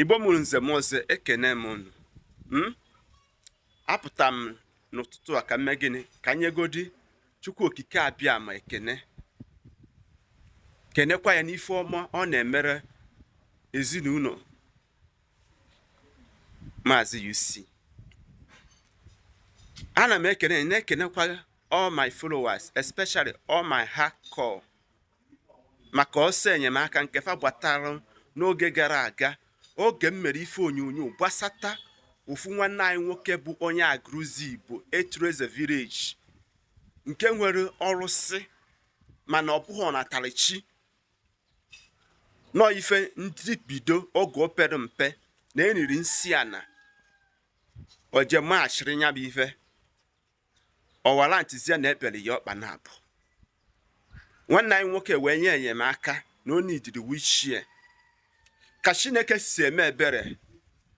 igbo mụrụ nze mụọ ọzọ ekene m unu hmm? apụta m n'ụtụtụ a ka m mee gịnị ka m nyegodi chukwu okike abịama ekene kenekwa ya n'ife ọma ọ na-emere ezinụlọ maazị UC ana m ekene na-ekenekwa all my followers especially all my hardcore maka ọsọ enyemaka nke fa gbatara n'oge gara aga oge m mere ife onyonyo gbasata ofu nwanne anyị nwoke bụ onye Aguluzigbo Etuleze village nke nwere ọrụsị mana ọ bụghị ọnatara chi na ọ ife ndị bido oge o pere mpe na e niri nsị ana o jee machiri nya bụ ife ọ warrantịzie na e bere ya ọkpa naabọ nwanne anyị nwoke wee yọ enyemaka na ọ needịrị wheelchair ka chineke si eme ebere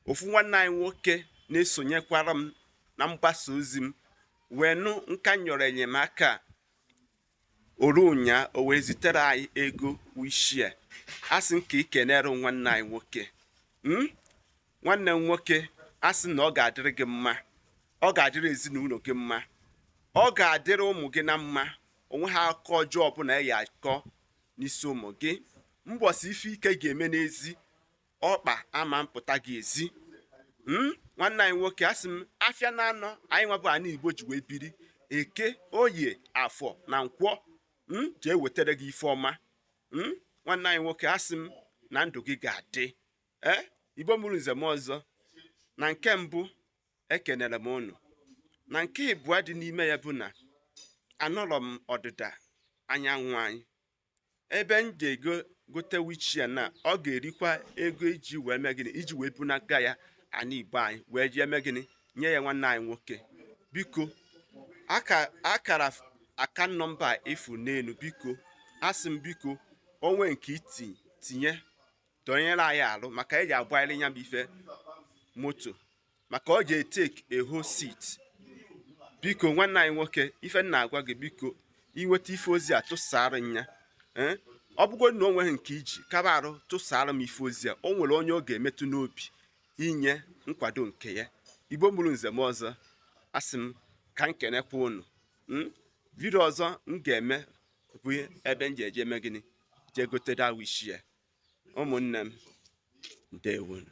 ofu nwanne anyị nwoke na-esonyekwara m na mgbasa ozi m wee nụ ka m yọrọ enyemaka o ruo ụnyaa o wee zitere anyị ego wheelchair asị m ka i kenere nwanne anyị nwoke hmm? nwanne m nwoke asị na ọ ga-adịrị gị mma ọ ga-adịrị ezinụlọ gị mma ọ ga-adịrị ụmụ gị na mma o nweha akụkọ ọjọọ ọbụla a ya-akọ n'isi ụmụ gị mbọsị ife ike ga-eme n'ezi ọkpa ama mpụta gị ezi hmm? nwanne anyị nwoke asị m afịa naanọ anyịnwa bụ ana igbo ji wee biri eke oye afọ na nkwọ hmm? je-ewetara gị ife ọma hmm? nwanne anyị nwoke asị m na ndụ gị ga-adị ee eh? igbo mụrụ nze mụọ ọzọ na nke mbụ ekenere m unu na nke ịbụọ dị n'ime ya bụ na anọrọ m ọdịda anyanwụ anyị ebe m ga-ego gote wheelchair na ọ ga-erikwa ego iji wee mee gịnị iji wee bunata ya ana igbo anyị wee jee mee gịnị nye ya nwanne anyị nwoke biko akara account number ị fụ n'elu biko asị m biko o nwee nke i ji tinye dọnyere anyị arụ maka e je-agbarịrị nya bụ ife moto maka ọ ga-etake a whole seat biko nwanne anyị nwoke ife m na-agwa gị biko i nweta ife ozi a tụsara nya eh? ọ bụgo na o nweghị nke i ji kaba arụ tụsara m ife ozi a o nwere onye ọ ga-emetụ n'obi inye nkwado nke ya igbo mụrụ nze mụọ ọzọ asị m ka m kenekwa unu hmm? vidio ọzọ m ga-eme bụ ebe m ji eje eme gịnị jee gote that wheelchair ụmụnne m ndewonụ